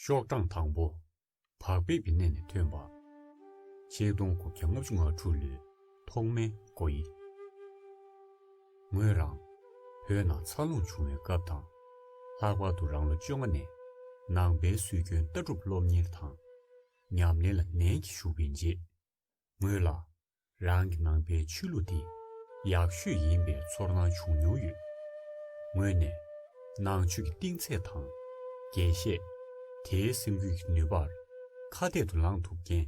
ཤོག་གྲངས་དང་པོ། བག་ཕེབས་ཀྱི་གནས་ནས་ཐོན་པ། ཆིག་སྟོང་དགུ་བརྒྱ་ལྔ་བཅུ་ང་དྲུག་ལོའི་ཐོག་མའི་སྐོར་ཡིན། ངོས་རང། བོད་ནང་འཚར་ལོངས་བྱུང་བའི་སྐབས་དང། ལྷག་པར་དུ་རང་ལོ་བཅོ་ལྔ་ནས་ནང་པའི་སྲོལ་རྒྱུན་ལྟ་གྲུབ་སློབ་གཉེར་དང། ཉམས་ལེན་ལ་ནན་གྱིས་ཞུགས་པའི་རྗེས། ངོས་ལ། རང་གི་ནང་པའི་ཆོས་ལུགས་འདི། ཡག་ཤོས་ཡིན་པའི་ཚོར་སྣང་བྱུང་མྱོང་ཡོད། ངོས་ནས། ནང་ཆོས་ཀྱི་གཏིང་ཚད་དང། རྒྱས་བཤད། དེའི་སེམས་ཁུར་གྱི་ནུས་པར། ཁ་གཏད་དུ་ལངས་ཐུབ་མཁན།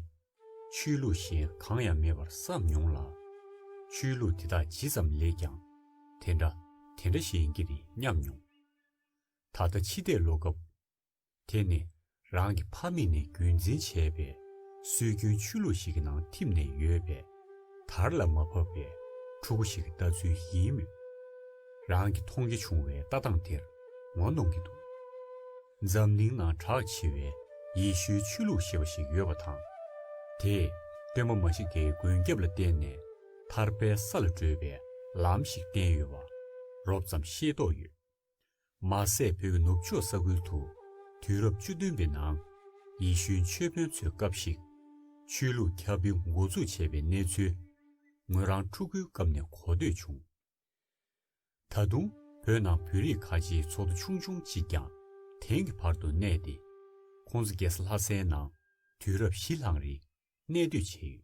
ཆོས་ལུགས་གཞན་གང་ཡང་མེད་པར་བསམ་མྱོང་ལ། ཆོས་ལུགས་དེ་དག་ཇི་ཙམ་ལེགས་ཀྱང། དེ་འདྲ། དེ་འདྲ་ཞིག་ཡིན་གྱི་རེད་སྙམ་མྱོང། ད་ལྟ་ཕྱི་བལྟས་ཀློག་སྐབས། དེ་ནི་རང་གི་ཕ་མེས་ནས་རྒྱུད་འཛིན་བྱས་པའི་སྲོལ་རྒྱུན་ཆོས་ལུགས་ཤིག་གི་ནང་འཐིམས་ནས་ཡོད་པས། དར་ལ་མ་བབས་པའི་ཕྲུ་གུ་ཞིག་གི་ལྟ་ཚུལ་ཡིན་མོད། རང་གིས་མཐོང་རྒྱ་ཆུང་བའི་ལྟ་སྟངས་དེར་ངོ་གནོང་གི་འདུག་འཛམ་གླིང་ནང་གྲགས་ཆེ་བའི་ཡེ་ཤུའི་ཆོས་ལུགས་ཞེས་པ་ཞིག་ཡོད་པ་དང། དེས་སྟོན་པ་མཱ་ཤི་ཀའི་མགོན་སྐྱབས་ལ་བརྟེན་ནས་ཐར་པའི་ས་ལ་བགྲོད་པའི་ལམ་ཞིག་བསྟན་ཡོད་པ་རོབ་ཙམ་ཤེས་རྟོགས་ཡོད། མ་ཟད་བོད་ནུབ་ཕྱོགས་ས་ཁུལ་དུ་དུས་རབས་བཅུ་བདུན་པའི་ནང་ཡེ་ཤུའི་ཆོས་དཔོན་ཚོའི་སྐབས་ཤིག་ཆོས་ལུགས་ཁྱབ་སྤེལ་མགོ་འཛུགས་བྱས་པའི་གནས་ཚུལ་ངོས་རང་ཕྲུ་གུའི་སྐབས་ནས་གོ་ཐོས་བྱུང། ད་དུང་བོད་ནང་བོད་རིགས་ཁ་ཆེའི་ཚོགས་འདུ་ཆུང་ཆུང་གཅིག་ཀྱང་དེང་གི་བར་དུ་གནས་ཏེ་ཁོང་ཚོ་རྒྱལ་ས་ལྷ་སའི་ནང་དུས་རབས་བཞི་ལྷག་རིང་གནས་སྡོད་བྱས་ཡོད།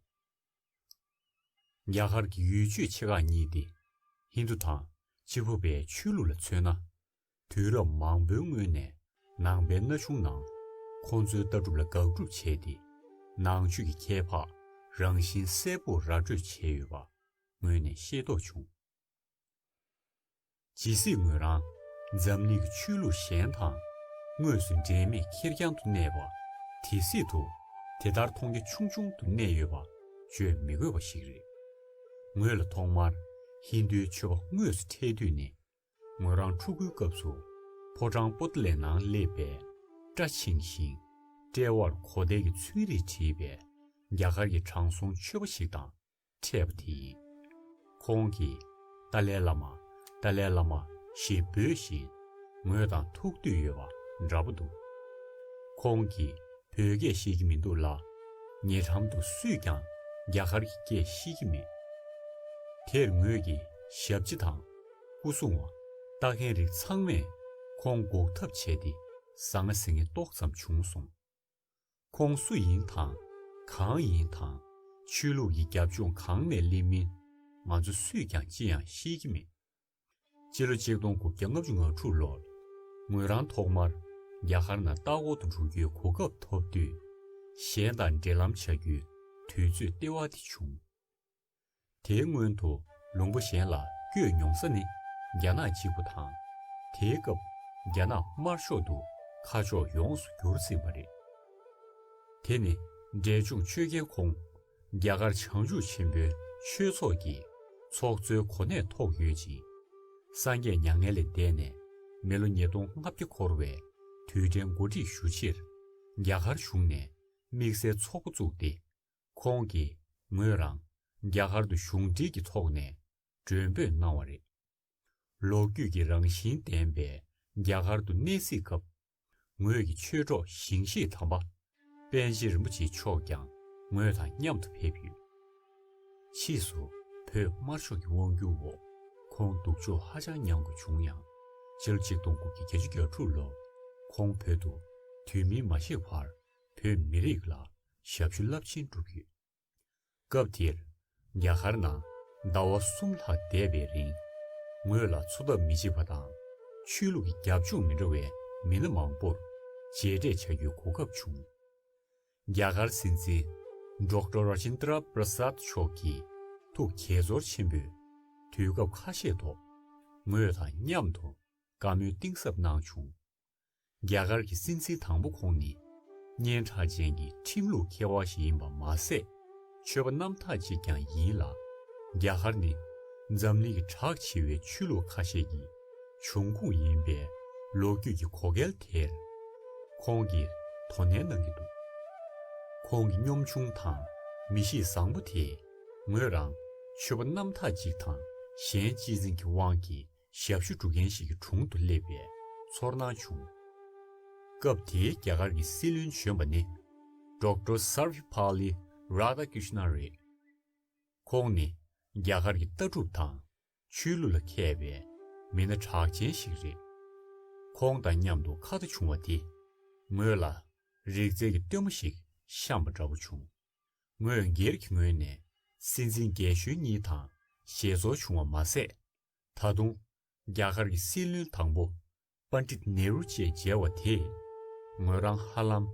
རྒྱ་གར་གྱི་ཡུལ་ཆོས་ཆེ་ཁག་གཉིས་ཏེ། ཧིན་དུ་དང་ཕྱི་ཕོ་བའི་ཆོས་ལུགས་ལ་མཚོན་ན། དུས་རབས་མང་པོའི་སྔོན་ནས་ནང་པའི་ན་ཆུང་རྣམས་ཁོང་ཚོའི་ལྟ་གྲུབ་ལ་དགག་སྒྲུབ་བྱས་ཏེ། ནང་ཆོས་ཀྱི་ཁྱད་འཕགས་རང་བཞིན་གསལ་པོར་ར་སྤྲོད་བྱས་ཡོད་པ་སྔོན་ནས་ཤེས་རྟོགས་བྱུང། ཇི་སྲིད་ངོས་རང་འཛམ་གླིང་གི་ཆོས་ལུགས་གཞན་དང་དངོས་སུ་འབྲེལ་མེད་ཁེར་རྐྱང་དུ་གནས་པ་དེ་སྲིད་དུ་དེ་ལྟར་མཐོང་རྒྱ་ཆུང་ཆུང་དུ་གནས་ཡོད་པ་བརྗོད་མི་དགོས་པ་ཞིག་རེད། ངོས་ལ་ཐོག་མར་ཧིན་རྡུའི་ཆོས་པ་དངོས་སུ་འཕྲད་དུས་ནི་ངོས་རང་ཕྲུ་གུའི་སྐབས་སུ་ཕོ་བྲང་པོ་ཏི་ལའི་ནང་སླེབས་པས་སྐྲ་ཆིངས་ཤིང། དཔྲལ་བར་གོ་ཐལ་གྱི་ཚོན་རིས་བྲིས་པའི་རྒྱ་གར་གྱི་དྲང་སྲོང་ཆོས་པ་ཞིག་དང་འཕྲད་པ་དེ་ཡིན། ཁོང་གིས་ཏཱ་ལའི་བླ་མ་ཏཱ་ལའི་བླ་མ་ཞེས་འབོད་བཞིན་ངོས་དང་ཐུག་འདོད་ཡོད་པ་འདྲ་པོ་འདུག་ཁོང་གིས་བོད་སྐད་ཤེས་ཀྱི་མི་འདུག་ལ། ཉེ་འགྲམ་དུ་སུས་ཀྱང་རྒྱ་གར་གྱི་སྐད་ཤེས་ཀྱི་མེད། དེར་ངོས་ཀྱི་ཞབས་ཕྱི་དང་སྐུ་སྲུང་བ་ལྟ་མཁན་རིགས་ཚང་མས་ཁོང་འགོག་ཐབས་བྱས་ཏེ་ཟ་ང་ཟི་ངེ་ཏོག་ཙམ་བྱུང་སོང། ཁོང་སུ་ཡིན་དང། གང་ཡིན་དང། ཆོས་ལུགས་ཀྱི་རྒྱབ་ལྗོངས་གང་ནས་སླེབས་མིན། ང་ཚོ་སུས་ཀྱང་ཅི་ཡང་ཤེས་ཀྱི་མེད། སྤྱི་ལོ་ཆིག་སྟོང་དགུ་བརྒྱ་ལྔ་བཅུ་ང་དྲུག་ལོར། ངོས་རང་ཐོག་མར་རྒྱ་གར་ནང་སྟག་འོག་ཏུ་འགྲོ་རྒྱུའི་གོ་སྐབས་ཐོབ་དུས། གཞན་དང་འབྲེལ་ལམ་བྱ་རྒྱུའི་དུས་ཚོད་ལྟེ་བ་དེ་བྱུང། དེའི་སྔོན་དུ་ལུང་པ་གཞན་ལ་བསྐྱོད་མྱོང་ས་ནི་རྒྱ་ནག་གཅིག་པུ་དང། དེའི་སྐབས་རྒྱ་ནག་དམར་ཤོག་ཏུ་ཁ་ཕྱོགས་ཡོངས་སུ་བསྒྱུར་ཟིན་པ་རེད། དེ་ནི་འབྲས་ལྗོངས་ཆོས་རྒྱལ་ཁོང་རྒྱ་གར་བྱང་ཆུབ་ཆེན་པོའི་ཆོས་ཚོགས་ཀྱི་ཚོགས་གཙོའི་གོ་གནས་ཐོག་ཡོད་ཅིང། སངས་རྒྱས་མྱ་ངན་ལས་འདས་ནས་མི་ལོ་ཉིས་སྟོང་ལྔ་བརྒྱ་འཁོར་བའི་དུས་དྲན་གོ་སྒྲིག་ཞུ་ཕྱིར་རྒྱ་གར་གཞུང་ནས་དམིགས་བསལ་ཚོགས་པ་བཙུགས་ཏེ་ཁོང་གིས་ངོས་རང་རྒྱ་གར་དུ་གཞུང་འབྲེལ་གྱི་ཐོག་ནས་མགྲོན་འབོད་གནང་བ་རེད། ལོ་རྒྱུས་ཀྱི་རང་བཞིན་ལྡན་པའི་རྒྱ་གར་དུ་གནས་གཟིགས་སྐབས། ངོས་ཀྱི་ཆོས་གྲོགས་ཞིང་གཤེགས་དམ་པ་དཔལ་ཆེན་རིན་པོ་ཆེ་མཆོག་ཀྱང་ངོས་དང་མཉམ་དུ་ཕེབས་ཡོད། ཕྱིས་སུ་བོད་དམར་ཤོག་གི་དབང་སྒྱུར་འོག་ཁོང་སྡུག་སྦྱོང་ཧ་ཅང་མྱངས་དགོས་བྱུང་ཡང། སྤྱིར་ཆིག་སྟོང་དགུ་བརྒྱ་བརྒྱད་ཅུ་གྱ་དྲུག་ལོར་ཁོང་བོད་དུ་དུས་མིན་མ་གཤེགས་བར་བོད་མི་རིགས་ལ་ཞབས་ཞུ་རླབས་ཆེན་བསྒྲུབས་ཡོད། སྐབས་དེར། རྒྱ་གར་ནང་ཟླ་བ་གསུམ་ལྷག་བསྡད་པའི་རིང། ངོས་ལ་འཚོ་ཐབས་མི་བྱེད་པ་དང། ཆོས་ལུགས་ཀྱི་རྒྱབ་ལྗོངས་མི་འདྲ་བའི་མི་སྣ་མང་པོར་མཇལ་འཕྲད་བྱ་རྒྱུའི་གོ་སྐབས་བྱུང། རྒྱ་གར་སྲིད་འཛིན Doctor Rajendra Prasad མཆོག་གིས་ཐུགས་དགྱེས་ཚོར་ཆེན་པོས་དུས་སྐབས་ཁ་ཤས་ཐོག་ངོས་དང་མཉམ་དུ་བཀའ་མོལ་གཏིང་ཟབ་གནང་བྱུང། རྒྱ་གར་གྱི་སྲིད་འཛིན་དང་པོ་ཁོང་ནི། སྙན་གྲགས་ཅན་གྱི་ཁྲིམས་ལུགས་མཁས་དབང་ཞིག་ཡིན་པ་མ་ཟད། ཆོས་པ་རྣམ་དག་ཅིག་ཀྱང་ཡིན་ལ། རྒྱ་གར་ནི། འཛམ་གླིང་གི་གྲགས་ཆེ་བའི་ཆོས་ལུགས་ཁ་ཤས་ཀྱི་འབྱུང་ཁུངས་ཡིན་པས་ལོ་རྒྱུས་ཀྱི་གོ་སྐལ་དེར། ཁོང་གིས་དོ་ནན་གནང་གི་འདུག་ཁོང་གི་གཉོམ་ཆུང་དང་མི་གཤིས་བཟང་པོ་དེས་ངོས་རང་ཆོས་པ་རྣམ་དག་ཅིག་དང་གཞན་གཅེས་འཛིན་གྱི་དབང་གིས། ཞབས་ཞུ་སྒྲུབ་མཁན་ཞིག་གི་དྲུང་དུ་སླེབས་པའི་ཚོར་སྣང་བྱུང། སྐབས་དེའི་རྒྱ་གར་གྱི་སྲིད་བློན་གཞོན་པ་ནི Doctor Sarvepalli Radhakrishnan རེད། ཁོང་ནི་རྒྱ་གར་གྱི་ལྟ་གྲུབ་དང་ཆོས་ལུགས་ལ་མཁས་པའི་མི་སྣ་གྲགས་ཅན་ཞིག་རེད། ཁོང་དང་མཉམ་དུ་ཁ་བརྡ་བྱུང་བ་དེས་ངོས་ལ་རིག་རྩལ་གྱི་སྟོན་མོ་ཞིག་བཤམས་པ་འདྲ་བོ་བྱུང། ངོས་སྒེར་གྱི་ངོས་ནས་སྲིད་འཛིན་རྒྱལ་གཞོན་གཉིས་དང་ཞལ་འཚོ་བྱུང་བ་མ་ཟད། ད་དུང། རྒྱ་གར་གྱི་སྲིད་བློན་དང་པོ Pandit Nehru བཅས་མཇལ་བ་དེས། ངོས་རང་ཧ་ལམ།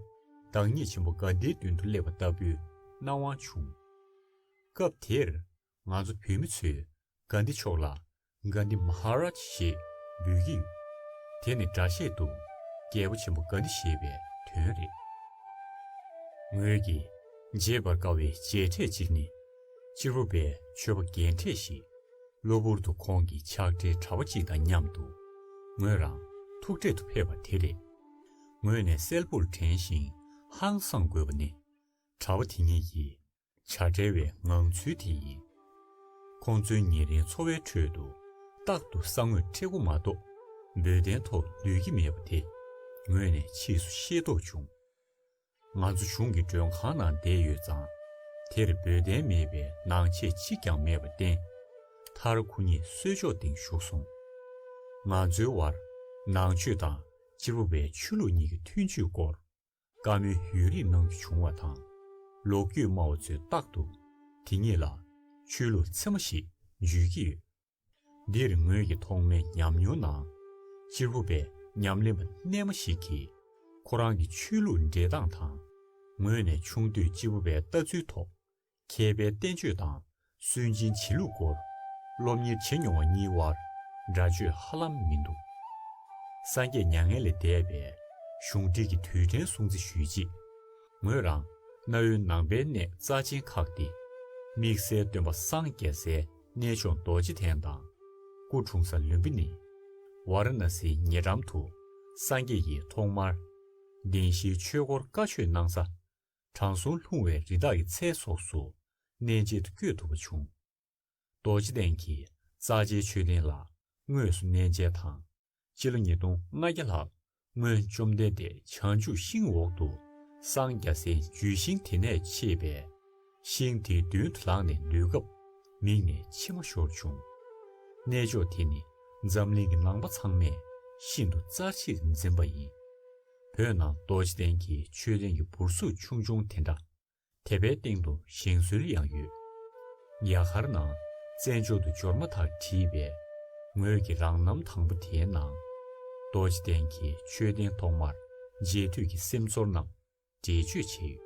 བདག་ཉིད་ཆེན་པོ Gandhi མདུན་དུ་སླེབས་པ་ལྟ་བུའི་སྣང་བ་བྱུང། སྐབས་དེར། ང་ཚོ་བོད་མི་ཚོས Gandhi མཆོག་ལ Gandhi Maharaj ཞེས་འབོད་ཀྱི་ཡོད། དེ་ནི་སྒྲ་བཤད་དུ་རྒྱལ་པོ་ཆེན་པོ Gandhi ཞེས་པའི་དོན་རེད། ངོས་ཀྱིས་བརྗེད་པར་དཀའ་བའི་མཇལ་འཕྲད་ཅིག་ནི། སྤྱིར་བོད་པའི་ཆོས་པ་རྒན་གྲས་ཤིག་གློ་བུར་དུ་ཁོང་གི་ཕྱག་སྦྲེལ་གྲྭ་བ་གཅིག་དང་མཉམ་དུ། ངོས་རང་ཐུག་འཕྲད་དུ་ཕེབས་པ་དེ་རེད། ངོས་ནས་གསལ་པོར་དྲན་ཞིང་ཧང་སངས་དགོས་པ་ནི། གྲྭ་བ་དེ་གཉིས་ཀྱི་བྱ་བྲལ་བའི་ངང་ཚུལ་དེ་ཡིན། ཁོང་ཚོའི་ཉེ་རིང་འཚོ་བའི་ཁྲོད་དུ། རྟག་ཏུ་ས་ངོས་ཁྲེ་སྒོ་མ་གཏོགས་འབོལ་གདན་ཐོག་སྡོད་ཀྱི་མེད་པ་དེ། ངོས་ནས་ཕྱིས་སུ་ཤེས་རྟོགས་བྱུང། ང་ཚོ་གཞུང་གི་མགྲོན་ཁང་ནང་བསྡད་ཡོད་ཙང། དེར་འབོལ་གདན་མེད་པའི་ནང་ཆས་གཅིག་ཀྱང་མེད་པ་བརྟེན། མཐར་ཁོ་གཉིས་གསོལ་ལྕོག་སྟེང་བཞུགས་སོང། ང་ཚོའི་དབར་ནང་ཆོས་དང་སྤྱི་བོ་བའི་ཆོས་ལུགས་གཉིས་ཀྱི་མཐུན་ཇུས་སྐོར། བཀའ་མོལ་ཡུན་རིང་གནང་རྒྱུ་བྱུང་བ་དང། ལོ་རྒྱུས་སྨྲ་བ་ཚོས་རྟག་ཏུ་དེ་གཉིས་ལ་ཆོས་ལུགས་ཚད་མ་ཞིག་འཇུས་ཀྱི་ཡོད། འདིར་ངོས་ཀྱི་ཐོག་མའི་ཉམས་མྱོང་ནང། གཅེར་བུ་པའི་ཉམས་ལེན་པ་རྣལ་མ་ཞིག་གིས། ཁོ་རང་གི་ཆོས་ལུགས་འབྲས་སྟངས་དང། ངོས་ནས་ཆུང་དུས་གཅེར་བུ་པའི་ལྟ་ཚུལ་ཐོག། མཁས་པའི་བསྟན་བཅོས་དང་སུན་འབྱིན་བྱེད་ལུགས་སྐོར། སློབ་གཉེར་བྱེད་མྱོང་བ་གཉིས་དབར་འདྲ་བརྗོད་ཧ་ལམ་མི་འདུག། སངས་རྒྱས་མྱ་ངན་ལས་འདས་པའི་གཞུང་བསྒྲིགས་ཀྱི་དུས་དྲན་སྲུང་བརྩི་ཞུས་རྗེས། ངོས་རང་གནའ་བོའི་ནང་པའི་གནས་རྩ་ཆེན་ཁག་སྟེ། དམིགས་བསལ་སྟོན་པ་སངས་རྒྱས་སའི། གནས་མཆོག་རྡོ་རྗེ་གདན་དང། སྐུ་འཁྲུངས་ས་ལུམྦི་ནི། ཝཱ་ར་ན་སིའི་ཉེ་འགྲམ་དུ། སངས་རྒྱས་ཡིད་ཐོག་མར། གདན་བཞིའི་ཆོས་སྐོར་བཀའ་ཆོས་གནང་ས། དྲང་སྲོང་ལྷུང་བའི་རི་དྭགས་ཀྱི་ཚལ་སོགས་སུ། གནས་མཇལ་དུ་བསྐྱོད་ཐུབ་པ་བྱུང། རྡོ་རྗེ་གདན་གྱི་རྩ་ཆེའི་མཆོད་རྟེན་ལ་དངོས་སུ་གནས་མཇལ་དང། སྤྱི་ལོ་ཉིས་སྟོང་ལྔ་བརྒྱ་ལྷག་སྔོན་བཅོམ་ལྡན་འདས་བྱང་ཆུབ་ཤིང་འོག་ཏུ་སངས་རྒྱ་སའི་རྒྱུད་ཤིང་དེ་ནས་མཆེད་པས། ཤིང་དེའི་མདུན་དུ་ལངས་ནས་འདུལ་སྐབས་མིག་ནས་མཆི་མ་ཤོར་བྱུང། གནས་མཆོག་དེ་ནི་འཛམ་གླིང་གི་ནང་པ་ཚང་མས་ཤིན་ཏུ་རྩ་ཆེར་འཛིན་པ་ཡིན། བོད་ནང་རྡོ་རྗེ་གདན་གྱི་མཆོད་རྟེན་གྱི་འབུར་གཟུགས་ཆུང་ཆུང་དེ་འདྲ་དེ་པའི་སྟེང་དུ་བཞེངས་སྲོལ་ཡང་ཡོད། ཉལ་ཁར་ནང་རྩེ་མཆོག་ཏུ་འབྱོར་མ་ཐག་བྲིས་པའི་ངོས་ཀྱི་རང་རྣམ་དང་པོ་དེའི་ནང། རྡོ་རྗེ་གདན་གྱི་མཆོད་རྟེན་ཐོག་མར་མཇལ་དུས་ཀྱི་སེམས་ཚོར་རྣམས་འགྲེལ་བརྗོད་བྱས་ཡོད།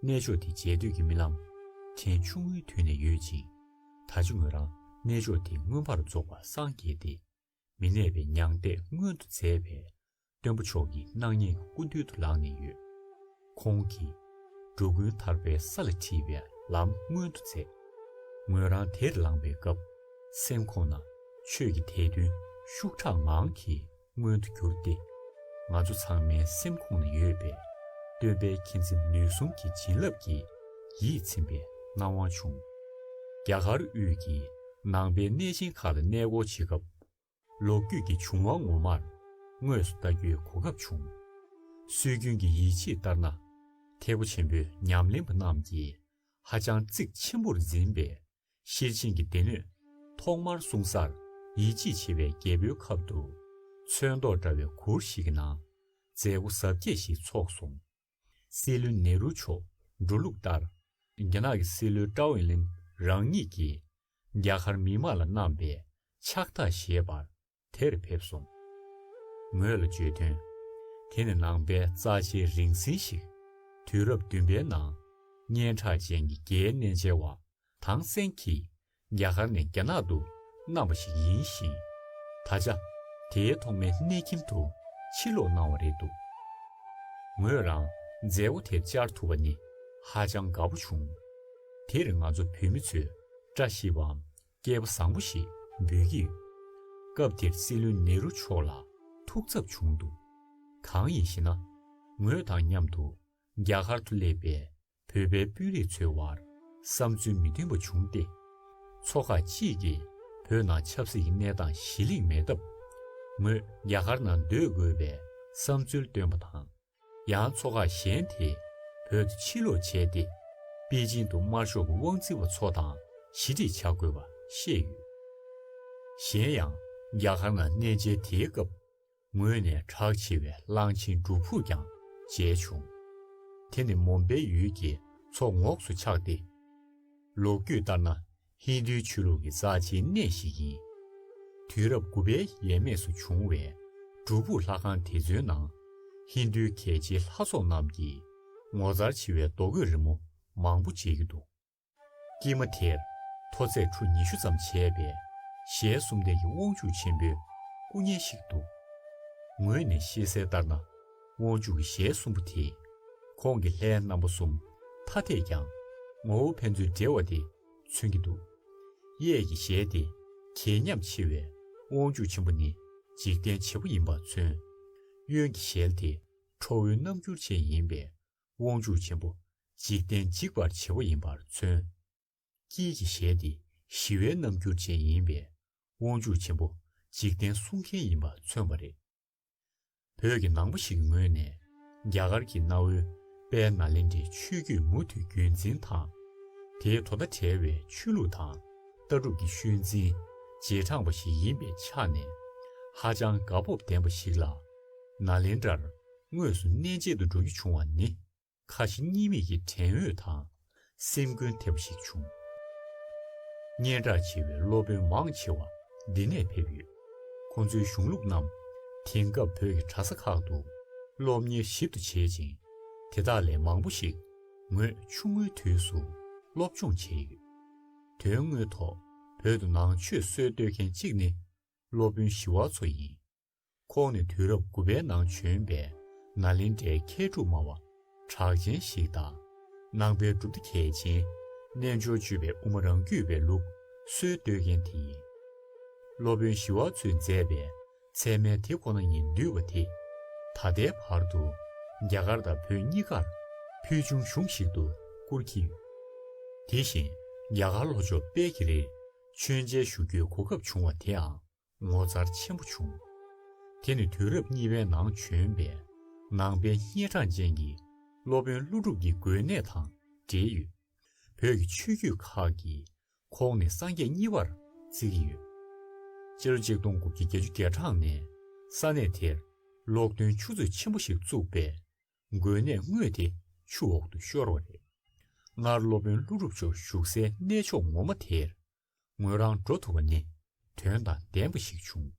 གནས་མཆོག་དེ་མཇལ་དུས་ཀྱི་རྨི་ལམ་ཕྲན་ཆུང་ངུའི་དུས་ནས་ཡོད་ཅིང། ད་ཆ་ངོས་རང་གནས་མཆོག་དེ་མངོན་པར་རྫོགས་པར་སངས་རྒྱས་ཏེ། མི་གནས་པའི་མྱང་འདས་མངོན་དུ་མཛད་པས་སྟོན་པ་མཆོག་གི་སྣང་བརྙན་གྱི་སྐུ་མདུན་དུ་ལངས་ནས་ཡོད། ཁོང་གིས། འགྲོ་ཀུན་ཐར་པའི་ས་ལ་འཁྲིད་པའི་ལམ་མངོན་དུ་མཛད། ངོས་རང་དེར་ལངས་པའི་སྐབས་སེམས་ཁོང་ན་ཆོས་ཀྱི་དད་འདུན་ཤུགས་དྲག་ངང་གིས་མངོན་དུ་གྱུར་ཏེ། ང་ཚོ་ཚང་མའི་སེམས་ཁོང་ན་ཡོད་པའི་སྟོན་པའི་མཁྱེན་བརྩེ་ནུས་གསུམ་གྱི་བྱིན་རླབས་ཀྱིས་ཡིད་ཚིམ་པའི་སྣང་བ་བྱུང། རྒྱ་གར་དབུས་ཀྱི་ནང་པའི་གནས་ཆེན་ཁག་ལ་གནས་སྐོར་བྱེད་སྐབས། ལོ་རྒྱུས་ཀྱི་བྱུང་བ་ངོ་མར་དངོས་སུ་ལྟ་རྒྱུའི་གོ་སྐབས་བྱུང། སྲོལ་རྒྱུན་གྱི་ཡིད་ཆེས་ལྟར་ན། ཐེག་པ་ཆེན་པོའི་ཉམས་ལེན་པ་རྣམས་ཀྱིས་ཧ་ཅང་གཙིགས་ཆེན་པོར་འཛིན་པའི་ཤེར་ཕྱིན་གྱི་སྡེ་སྣོད། ཐོག་མར་གསུང་སར་ཡིད་ཆེས་བྱེད་པའི་རྒྱལ་པོའི་ཁབ་ཏུ། ཚོན་མདོག་འདྲ་བའི་གུར་ཞིག་གི་ནང་མཛད་སྒོ་གཟབ་རྒྱས་ཤིག་ཚོགས་སོང། སྲིད་བློན་ནེ་རུ་མཆོག་འགྲོ་ལུགས་ལྟར། རྒྱ་ནག་གི་སྲིད་བློན་ཀྲའོ་ཝེ་ལིན་རང་ཉིད་ཀྱིས་རྒྱ་གར་མི་དམངས་ལ་གནང་པའི་ཕྱག་རྟགས་བཞེས་པར་དེར་ཕེབས་སོང། ངོས་ལ་བརྗོད་དོན། དེ་ནི་ནང་པའི་རྩ་ཆེའི་རིང་བསྲེལ་ཞིག། དུས་རབས་བདུན་པའི་ནང་སྙན་གྲགས་ཅན་གྱི་རྒྱའི་གནས་མཇལ་བ་ཐང་སན་གྱིས་རྒྱ་གར་ནས་རྒྱ་ནག་ཏུ་མནའ་བ་ཞིག་ཡིན་ཞིང། ད་ཆ་དེའི་ཐོག་མའི་གནས་ཁྱིམ་དུ་ཕྱིར་ལོག་གནང་བ་རེད་འདུག་ངོས་རང་མཛད་སྒོ་དེར་བཅར་ཐུབ་པ་ནི་ཧ་ཅང་དགའ་པོ་བྱུང། དེར་ང་ཚོ་བོད་མི་ཚོས་བཀྲ་ཤིས་པའམ་སྐལ་པ་བཟང་པོ་ཞེས་འབོད་ཀྱི་ཡོད། སྐབས་དེར་སྲིད་བློན་ནེ་རུ་མཆོག་ལ་ཐུགས་འཚབ་བྱུང་འདུག་གང་ཡིན་ཞེ་ན། ངོས་དང་མཉམ་དུ་རྒྱ་གར་དུ་སླེབས་པའི་བོད་པའི་དཔོན་རིགས་ཚོའི་དབར་བསམ་ཚུལ་མི་མཐུན་པ་བྱུང་སྟེ། ཚོགས་ཁག་གཅིག་གིས་བོད་ནང་ཆབ་སྲིད་ཀྱི་གནས་སྟངས་གཞི་གླེང་མེད་སྟབས། ངོས་རྒྱ་གར་ནང་སྡོད་དགོས་པའི་བསམ་ཚུལ་བཏོན་པ་དང། ཡང་ཚོགས་ཁག་གཞན་དེས་བོད་དུ་ཕྱིར་ལོག་བྱས་ཏེ། པེ་ཅིང་དུ་དམར་ཤོག་གི་དབང་འཛིན་པ་ཚོ་དང་ཞི་འགྲིག་བྱ་དགོས་པ་བཤད་ཡོད། གཞན་ཡང་རྒྱ་གར་ནང་གནས་མཇལ་དེའི་སྐབས། ངོས་ནས་གྲགས་ཆེ་བའི་གླང་ཆེན་སྒྲུབ་ཕུག་ཀྱང་མཇལ་བྱུང། དེ་ནི་མོམ་པའི་ཡུལ་གྱི་མཚོ་ངོགས་སུ་ཆགས་ཏེ། ལོ་རྒྱུས་ལྟར་ན་ཧིན་དྷུའི་ཆོས་ལུགས་ཀྱི་རྩ་ཆེའི་གནས་ཤིག་ཡིན། དུས་རབས་དགུ་པའི་ཡས་མས་སུ་བྱུང་བའི་སྒྲུབ་ཕུག་ལྷ་ཁང་དེ་ཚོའི་ནང། ཧིན་དྷུའི་གལ་ཆེའི་ལྷ་ཚོགས་རྣམས་ཀྱིས་ངོ་མཚར་ཆེ་བའི་རྡོ་བརྐོས་རི་མོ་མང་པོ་མཇལ་རྒྱུ་འདུག། སྐྱེས་མ་དེར་མཐོ་ཚད་ཁྲུ་ཉི་ཤུ་ཙམ་བྱས་པའི་ཞལ་གསུམ་ལྡན་གྱི་དབང་ཕྱུག་ཆེན་པོའི་སྐུ་བརྙན་ཞིག་འདུག་ངོས་ནས་ཤེས་གསལ་ལྟར་ན་དབང་ཕྱུག་གི་ཞལ་གསུམ་པོ་དེས་ཁོང་གི་ལྷའི་རྣམ་པ་གསུམ་ཐ་དད་ཀྱང་ངོ་བོ་ཕན་ཚུན་འབྲེལ་བ་དེ་མཚོན་གྱི་འདུག་གཡས་ཀྱི་ཞལ་ཏེ་གྱེས་ཉམས་ཆེ་བའི་དབང་ཕྱུག་ཆེན་པོ་ནི་འཇིག་རྟེན་བྱེད་པོ་ཡིན་པ་མཚོན། གཡོན་གྱི་ཞལ་དེ་ཁྲོ་བོའི་རྣམ་འགྱུར་ཅན་ཡིན་པས་དབང་ཕྱུག་ཆེན་པོ་འཇིག་རྟེན་འཇིག་པར་བྱེད་པོ་ཡིན་པར་མཚོན། དཀྱིལ་གྱི་ཞལ་འདི་ཞི་བའི་རྣམ་འགྱུར་ཅན་ཡིན་པས་དབང་ཕྱུག་ཆེན་པོ་འཇིག་རྟེན་བསྲུང་མཁན་ཡིན་པ་མཚོན་པ་རེད། བོད་ཀྱི་ནང་པ་ཞིག་གི་ངོས་ནས་རྒྱ་གར་གྱི་གནའ་བོའི་དཔལ་ནཱ་ལེནྡྲའི་ཆོས་བརྒྱུད་མུ་མཐུད་རྒྱུན་འཛིན་དང། དེའི་དོ་ཟླ་བྲལ་བའི་ཆོས་ལུགས་དང་ལྟ་གྲུབ་ཀྱི་ཤུལ་འཛིན་རྗེས་འབྲངས་པ་ཞིག་ཡིན་པའི་ཆ་ནས་ཧ་ཅང་དགའ་སྤོབས་ལྡན་པ་ཞིག་ལ། ནཱ་ལེནྡྲར་དངོས་སུ་གནས་མཇལ་དུ་འགྲོ་རྒྱུ་བྱུང་བ་ནི། ཁ་ཞེ་གཉིས་མེད་ཀྱི་དྲན་འོས་དང་སེམས་འགུལ་ཐེབས་པ་ཞིག་བྱུང། སྙན་གྲགས་ཆེ་བའི་སློབ་དཔོན་མང་ཆེ་བ་འདི་ནས་ཕེབས་ཡོད། ཁོང་ཚོའི་གཞུང་ལུགས་རྣམས་དེང་སྐབས་བོད་ཀྱི་གྲྭ་ས་ཁག་ཏུ་སློབ་གཉེར་ཞིབ་ཏུ་བྱེད་ཅིང། དེ་དག་ལས་མང་པོ་ཞིག་ངོས་ཆུང་ངུའི་དུས་སུ་སློབ་སྦྱོང་བྱས་ཡོད། དོན་དངོས་ཐོག་བོད་དུ་ནང་ཆོས་སྲོལ་གཏོད་མཁན་གཅིག་ནི་སློབ་དཔོན་ཞི་བ་འཚོ་ཡིན། ཁོང་ནི་དུས་རབས་དགུ་པའི་ནང་བྱོན་པའི་ནཱ་ལེནྡྲའི་མཁས་གྲུབ་སྨྲ་བ་གྲགས་ཅན་ཞིག་དང། ནང་པའི་གྲུབ་མཐའ་གལ་ཆེན། རྣལ་འབྱོར་སྤྱོད་པའི་དབུ་མ་རང་རྒྱུད་པའི་ལུགས་སྲོལ་གཏོད་མཁན་དེ་ཡིན། སློབ་དཔོན་ཞི་བ་འཚོས་མཛད་པའི་ཚད་མའི་དེ་ཁོ་ན་ཉིད་འདུལ་བ་དེ། ད་ལྟའི་བར་དུ་རྒྱ་གར་དང་བོད་གཉིས་ཀར་ཕུལ་བྱུང་གཞུང་ཞིག་ཏུ་བཀུར་གྱི་ཡོད། དེ་བཞིན་རྒྱ་གར་ལྷོ་ཕྱོགས་དཔལ་གྱི་རིར་མཆོད་མཇལ་ཞུ་རྒྱུའི་གོ་སྐབས་བྱུང་བ་དེའང་ངོ་མཚར་ཆེན་པོ་བྱུང། དེ་ནི་དུས་རབས་གཉིས་པའི་ནང་བྱོན་པའི་ནང་པའི་སྙེ་གྲངས་ཅན་གྱི་སློབ་དཔོན་ཀླུ་སྒྲུབ་ཀྱི་དགོན་གནས་དང་འབྲེལ་ཡོད། བོད་ཀྱི་ཆོས་བརྒྱུད་ཁག་གི་ཁོངས་ནས་སངས་རྒྱས་གཉིས་པར་བརྩི་གི་ཡོད། སྤྱི་ལོ་ཆིག་སྟོང་དགུ་བརྒྱ་བརྒྱད་ཅུ་བརྒྱད་གྲངས་ནས་ས་གནས་དེར་ལོག་འདོན་ཆུ་མཛོད་ཆེན་པོ་ཞིག་བཙུགས་པས་དགོན་གནས་དངོས་དེ་ཆུ་འོག་ཏུ་ཤོར་བ་རེད། སྔར་སློབ་དཔོན་ཀླུ་སྒྲུབ་མཆོག་བཞུགས་སའི་གནས་མཆོག་ངོ་མ་དེར་ངོས་རང་འགྲོ་ཐུབ་པ་ནི་དོན་དང་ལྡན་པ་ཞིག་བྱུང།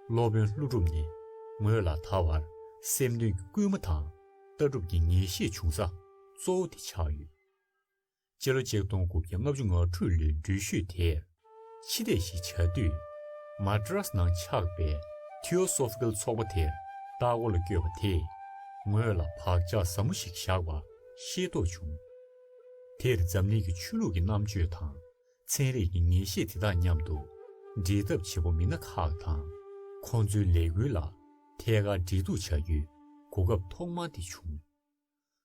སློབ་དཔོན་ཀླུ་སྒྲུབ་ནི་ངོས་ལ་ད་བར་སེམས་དོན་གྱི་སྐུལ་མ་དང་ལྟ་གྲུབ་ཀྱི་ངེས་ཤེས་བྱུང་ས་གཙོ་བོ་དེ་ཆགས་ཡོད། སྤྱི་ལོ་ཆིག་སྟོང་དགུ་བརྒྱ་ལྔ་བཅུ་ང་དྲུག་ལོའི་འགྲུལ་བཞུད་དེར་ཕྱི་ལས་ཤིག་བྱ་དུས། Madras ནང་ཆགས་པའི Theosophical ཚོགས་པ་དེར་ལྟ་སྐོར་ལ་བསྐྱོད་པ་དེས་ངོས་ལ་བག་ཆགས་ཟབ་མོ་ཞིག་བཞག་པ་ཤེས་རྟོགས་བྱུང། དེར་འཛམ་གླིང་གི་ཆོས་ལུགས་ཀྱི་རྣམ་དཔྱོད་དང་ཚན་རིག་གི་ངེས་ཤེས་དེ་དག་མཉམ་དུ་འབྲེལ་ཐབས་བྱེད་པོ་མི་སྣ་ཁག་དང་ཁོང་ཚོའི་ལས་འགུལ་ལ་ཐད་ཀར་འབྲེལ་གཏུག་བྱ་རྒྱུའི་གོ་སྐབས་ཐོག་མ་དེ་བྱུང།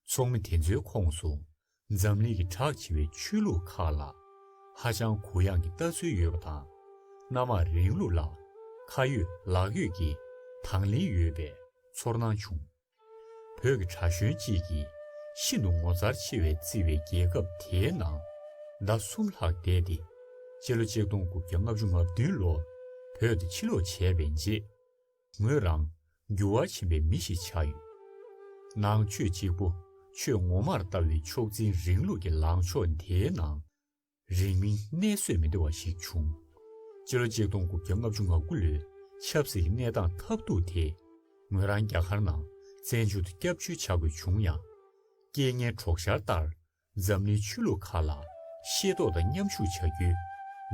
ཚོགས་མི་དེ་ཚོའི་ཁོངས་སུ་འཛམ་གླིང་གི་གྲགས་ཆེ་བའི་ཆོས་ལུགས་ཁག་ལ་ཧ་ཅང་གུ་ཡངས་ཀྱི་ལྟ་ཚུལ་ཡོད་པ་དང་སྣ་མང་རིང་ལུགས་ལ་ཁ་ཡོད་ལག་ཡོད་ཀྱི་དང་ལེན་ཡོད་པའི་ཚོར་སྣང་བྱུང། བོད་ཀྱི་གྲྭ་གཞོན་གཅིག་གིས་ཤིན་ཏུ་ངོ་མཚར་ཆེ་བའི་བརྩི་བའི་རྒྱལ་ཁབ་དེའི་ནང་ཟླ་གསུམ་ལྷག་བསྡད་དེ། སྤྱི་ལོ་ཆིག་སྟོང་དགུ་བརྒྱ་ལྔ་བཅུ་ང་བདུན་ལོར་བོད་དུ་ཕྱིར་ལོག་བྱས་པའི་རྗེས། ངོས་རང་འགྱུར་བ་ཆེན་པའི་མི་ཞིག་ཆགས་ཡོད། ནང་ཆོས་གཅིག་པོ་ཆོས་ངོ་མར་ལྟ་བའི་མཆོག་འཛིན་རིང་ལུགས་ཀྱི་ལངས་ཕྱོགས་དེའི་ནང། རིང་མིན་གནས་བཟོད་མི་བདེ་བ་ཞིག་བྱུང། སྤྱི་ལོ་གཅིག་སྟོང་དགུ་བརྒྱ་ལྔ་བཅུ་ང་དགུ་ལོའི་ཆབ་སྲིད་ཀྱི་གནས་སྟངས་ཐབས་རྡུགས་དེས་ངོས་རང་རྒྱ་གར་ནང་བཙན་བྱོལ་དུ་སྐྱབས་བཅོལ་བྱ་དགོས་བྱུང་ཡང། རྐྱེན་ངན་གྲོགས་ཤར་ལྟར་འཛམ་གླིང་ཆོས་ལུགས་ཁག་ལ་ཤེས་རྟོགས་དང་མཉམ་ཞུགས་བྱ་རྒྱུའི་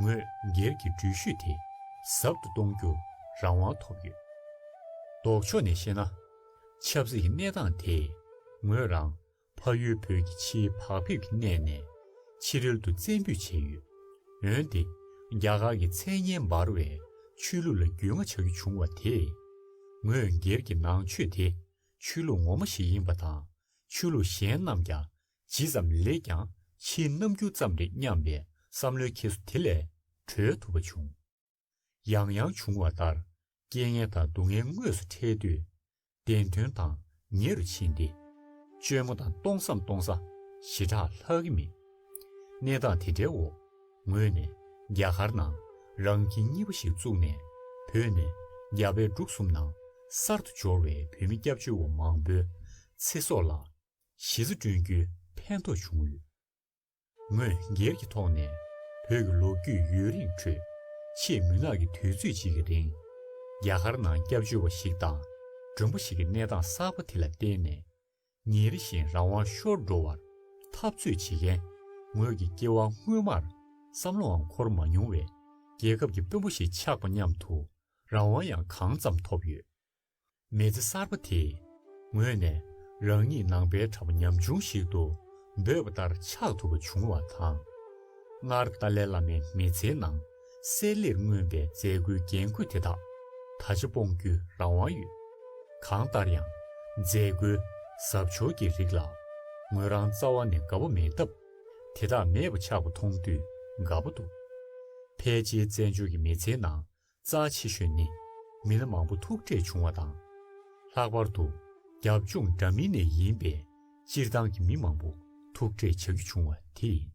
ངོས་སྒེར་གྱི་འགྲུལ་བཞུད་དེ་ཟབ་ཏུ་གཏོང་རྒྱུར་རང་དབང་ཐོབ་ཡོད། ལྡོག་ཕྱོགས་ནས་བཤད་ན། ཆབ་སྲིད་ཀྱི་གནས་སྟངས་དེས་ངོས་རང་ཕ་ཡུལ་བོད་ཀྱི་ཕྱིའི་བག་ཕེབས་ཀྱི་གནས་ནས་ཕྱི་རོལ་དུ་བཙན་འབུད་བྱས་ཡོད། འོན་ཏེ། རྒྱ་གར་གྱི་མཚན་སྙན་འབར་བའི་ཆོས་ལུགས་ལ་རྒྱུས་མངའ་བྱ་རྒྱུ་བྱུང་བ་དེས། ངོས་སྒེར་གྱི་ནང་ཆོས་དེ་ཆོས་ལུགས་ངོ་མ་ཞིག་ཡིན་པ་དང་ཆོས་ལུགས་གཞན་རྣམས་ཀྱང་ཇི་ཙམ་ལེགས་ཀྱང་ཕྱིའི་རྣམ་འགྱུར་ཙམ་རེད་སྙམ་པའི་བསམ་བློའི་ཁྱེར་སོ་དེ་ལས་གྲོལ་ཐུབ་པ་བྱུང། ཡང་ཡང་འབྱུང་བ་ལྟར་རྐྱེན་ངན་དང་སྡུག་བསྔལ་དངོས་སུ་འཕྲད་དུས་བདེན་དོན་དང་ཉེ་རུ་ཕྱིན་ཏེ། བཅོས་མ་དང་སྟོང་བསམ་སྟོང་ས་ཞི་དྲག་ལྷག་གི་མེད། གནས་སྟངས་དེ་འདྲའི་འོག་ངོས་ནས་རྒྱ་གར་ནང་རང་ཁྱིམ་གཉིས་པ་ཞིག་བཙུགས་ནས་བོད་ནས་རྒྱ་བལ་འབྲུག་གསུམ་ནང་གསར་དུ་འབྱོར་བའི་བོད་མི་སྐྱབས་བཅོལ་བ་མང་པོའི་ཚེ་སྲོག་ལ་གཞི་རྩ་བསྐྲུན་རྒྱུའི་ཕན་ཐོགས་བྱུང་ཡོད། ངོས་སྒེར་གྱི་ཐོག་ནས་བོད་ཀྱི་ལོ་རྒྱུས་ཡུན་རིང་ཁྲོད་ཆེས་མུན་ནག་གི་དུས་ཚོད་ཅིག་གི་རིང། རྒྱ་གར་ནང་སྐྱབས་བཅོལ་བ་ཞིག་དང་མགྲོན་པོ་ཞིག་གི་གནས་སྟངས་གསར་པ་དེ་ལ་བརྟེན་ནས། ཉིན་རེ་བཞིན་རང་དབང་ཤོར་འགྲོ་བར་འཐབ་རྩོད་བྱེད་མཁན་ངོས་ཀྱི་སྐྱེ་བ་སྔོན་མར་བསམ་བློའང་འཁོར་མ་མྱོང་བའི་རྒྱལ་ཁབ་ཀྱི་དཔོན་པོ་ཞིག་ཆགས་པ་མཉམ་དུ་རང་དབང་ཡང་གང་ཙམ་ཐོབ་ཡོད། མེལ་ཙེ་གསར་པ་དེས་ངོས་ནས་རང་ཉིད་ནང་པའི་གྲྭ་པ་ཉམ་ཆུང་ཞིག་ཏུ་འབོད་པ་ལྟར་ཆགས་ཐུབ་པ་བྱུང་བ་དང། སྔར་ཏཱ་ལའི་བླ་མའི་མི་ཚེའི་ནང་གསལ་ལེར་མངོན་པའི་མཛད་སྒོའི་རྒྱན་གོས་དེ་དག་ད་ཆ་སྤོང་རྒྱུའི་རང་དབང་ཡོད། གང་ལྟར་ཡང་མཛད་སྒོའི་གཟབ་མཆོར་གྱི་རིགས་ལ་ངོས་རང་རྩ་བ་ནས་དགའ་པོ་མེད་སྟབས། དེ་དག་མེད་པ་ཆགས་པ་མཐོང་དུས་དགའ་པོ་འདུག་ཕལ་ཆེའི་བཙན་བྱོལ་གྱི་མི་ཚེའི་ནང་རྩ་ཆེ་ཤོས་ནི་མི་སྣ་མང་པོ་ཐུག་འཕྲད་བྱུང་བ་དང། ལྷག་པར་དུ་རྒྱབ་ལྗོངས་འདྲ་མིན་ནས་ཡིན་པའི་སྤྱིར་བཏང་གི་མི་མང་པོ་ཐུག་འཕྲད་བྱ་རྒྱུ་བྱུང་བ་དེ་ཡིན།